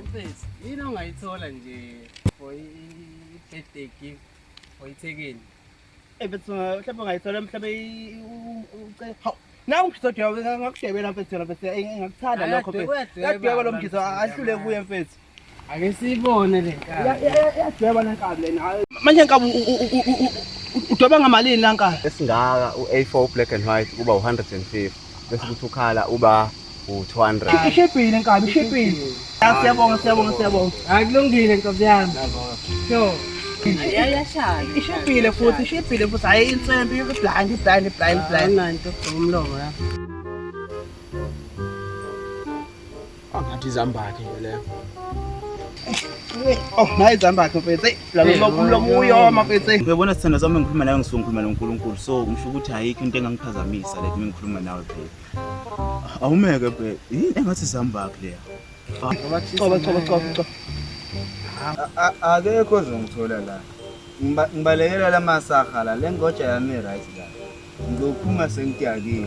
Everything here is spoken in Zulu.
Mfethu, yini ongayithola nje for i-birthday gift for ithekeni? Eh mfethu, mhlawumbe ungayithola mhlawumbe uce hawu nawu mfethu ngakushebela mfethu mfethu engakuthanda lokho mfethu. Kadweba lo mfethu ahlule kuye mfethu. Ake siyibone le nkabi. Yadweba le nkabi lena. Manje nkabi udweba ngamalini la nkabi? Esingaka u-A4 black and white kuba u-150 bese kuthi ukhala uba u-200. Ishibhile nkabi, ishibhile. Siyabonga, siyabonga, siyabonga. Hayi kulungile nkabi yami. Sure. Yayashaya. Ishibhile futhi, ishibhile futhi. Hayi insembe, iblind, iblind, iblind, iblind. Nanto umlomo la. Angathi izambakhe nje leyo. Oh, nayi izambakhe mfethu. Eyi, la mlomo umlomo uyoma mfethu. eyi. Uyabona sithando sami ngikhuluma nawe ngisuke ngikhuluma noNkulunkulu so ngisho ukuthi ayikho into engangiphazamisa like uma ngikhuluma nawe babe. Awumeke babe. Yini engathi sambakhe leya? Coba coba coba coba. akekho ozongithola la Ngiba- ngibalekela la masaha la le ngoja yami right la ngizophuma sengitiyakile